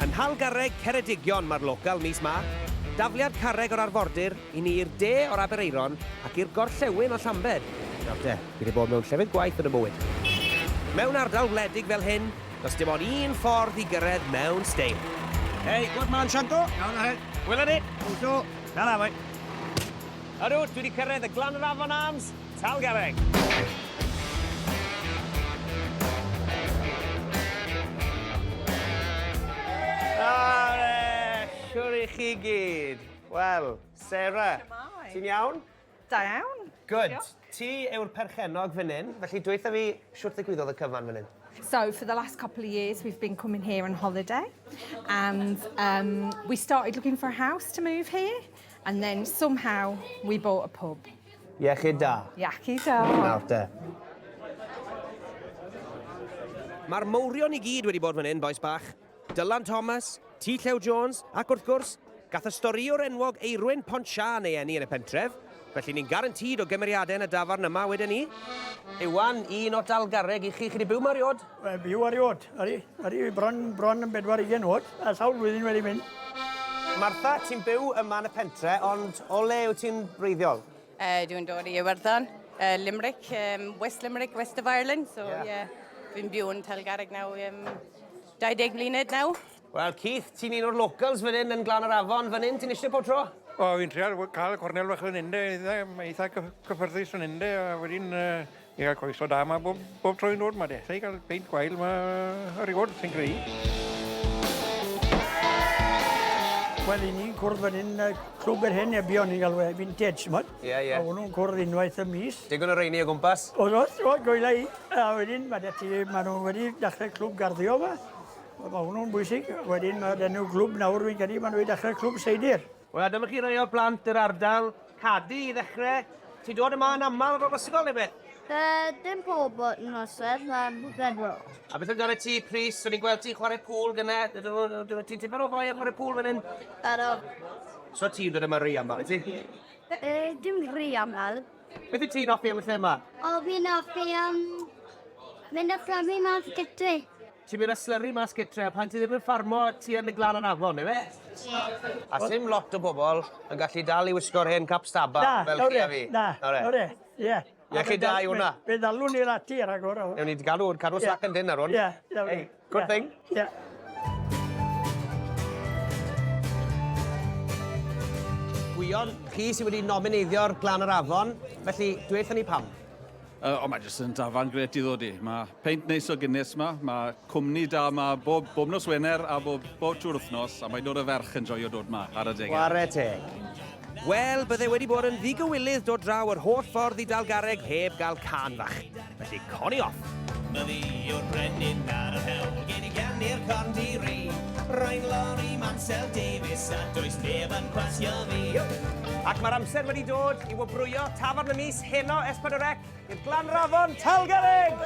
Yn nhal garreg Ceredigion mae'r local mis Mach, dafliad carreg o'r arfordir i ni i'r de o'r Aberaeron ac i'r gorllewin o Llambed. Nawr te, fi 'di bod mewn llefydd gwaith yn 'y mywyd. Mewn ardal wledig fel hyn, does dim ond un ffordd i gyrraedd mewn steil. Hey, good man, Shanto! Iawn o hyd! Wela ni! Hwyl 'to! Tara, boi! Ydw, dwi 'di cyrraedd y glan yr afon Arms! Tal garreg! Siwr i chi gyd! Wel, Sarah. Shwmae? Ti'n iawn? Da iawn. Good. Diolch. Ti yw'r perchennog fan 'yn, felly dweutha fi shwt ddigwyddodd y cyfan fan 'yn? So for the last couple of years we've been coming here on holiday and um we started looking for a house to move here and then somehow we bought a pub. Iechyd da. Iechyd da. Nawr te. Mae'r mawrion i gyd wedi bod fan hyn, bois bach. Dylan Thomas, T Llew Jones, ac wrth gwrs, gath y storïwr enwog Eirwyn Pont Siân ei eni yn y pentref, felly ni'n garantîd o gymeriadau yn y dafarn yma, weden i. Iwan, un o Dalgarreg i chi. Chi 'di byw 'ma eriod? Wel, byw ar ei ôd. Ar ei, ar ei bron, bron yn bedwar ugen ôd, a sawl flwyddyn wedi mynd. Martha, ti'n byw yma yn y pentre, ond o le yw ti'n breiddiol? Uh, dwi'n dod i Iwerddon, uh, Limerick, um, West Limerick, West of Ireland, so yeah. yeah. Fi'n byw yn Telgarreg nawr, um, 20 mlynedd nawr. Wel Keith, ti'n un o'r locals fan hyn yn Glan yr Afon, fan hyn ti'n eisiau pob tro? O, fi'n trial cael y cornel fach fan hyn de, mae eitha cyffyrddus fan hyn de, a wedyn i gael coeso da yma bob, bob tro i'n dod yma de, allai cael peint gwael yma ar ei fod, sy'n greu. Wel, i ni'n cwrdd fan hyn, clwb yr hen ebion ni'n galw e, vintage, chmod? Ie, yeah, ie. Yeah. A hwnnw'n cwrdd unwaith y mis. Digon o reini o gwmpas. Oedd, oedd, oedd, goela i. A wedyn, mae da ti, maen nhw wedi dechrau clwb garddio yma. Wel mae hwnnw'n bwysig. Wedyn mae'r enw clwb nawr fi'n credu maen nhw wedi dechrau Clwb Seidr. Wel a dyma chi rai o'r plant yr ardal, Cadi i ddechrau. Ti'n dod yma yn aml ar ôl ysgol neu beth? Yy dim pob nosweth mae'n bedwar. A beth amdana ti Prys? O'n i'n gweld ti'n chwarae pŵl gyne. Ti'n tipyn o foi am chwarae pŵl fan hyn? Ydw. So ti'n dod yma ry aml wyt ti? Yy dim ry aml. Beth wyt ti'n offi am y lle yma? O, fi'n offi am mynd a fflamu mas gytre. Ti'n mynd a slyru mas gytre a pan ti ddim yn ffarmo ti yn y glan yn afon, neu fe? Ie. A sim lot o bobl yn gallu dal i wisgo'r hen cap staba fel chi a fi. Na, nawr e, nawr e, ie. Ie, chi da i hwnna. Fe ddalwn ni'r ati ar agor o. Ewn ni, cadw, cadw slac yn dynn ar hwn. Ie, iawn. Good thing. Yeah. Gwion, chi sydd wedi nomineidio'r Glan yr Afon, felly dweud ni pam. Uh, o, mae jyst yn dafarn gret i ddod i. Mae peint neis o Guinness ma, mae cwmni da ma bob, bob nos Wener a bob, bob trwy'r wythnos, a mae dod y ferch yn joio dod ma ar y degau. Ware teg. Wel, bydde wedi bod yn ddigywilydd dod draw yr holl ffordd i Dalgareg heb gael can fach. Felly, coni off! Mae fi yw'r brenin ar yr hewl, gen i ganu'r corn di ri. Rwy'n Lori Mansel Davies a does neb yn gwasio fi. Ac mae'r amser wedi dod i wobrwyo tafarn y mis heno S4C i'r Glanrafon Talgerrig!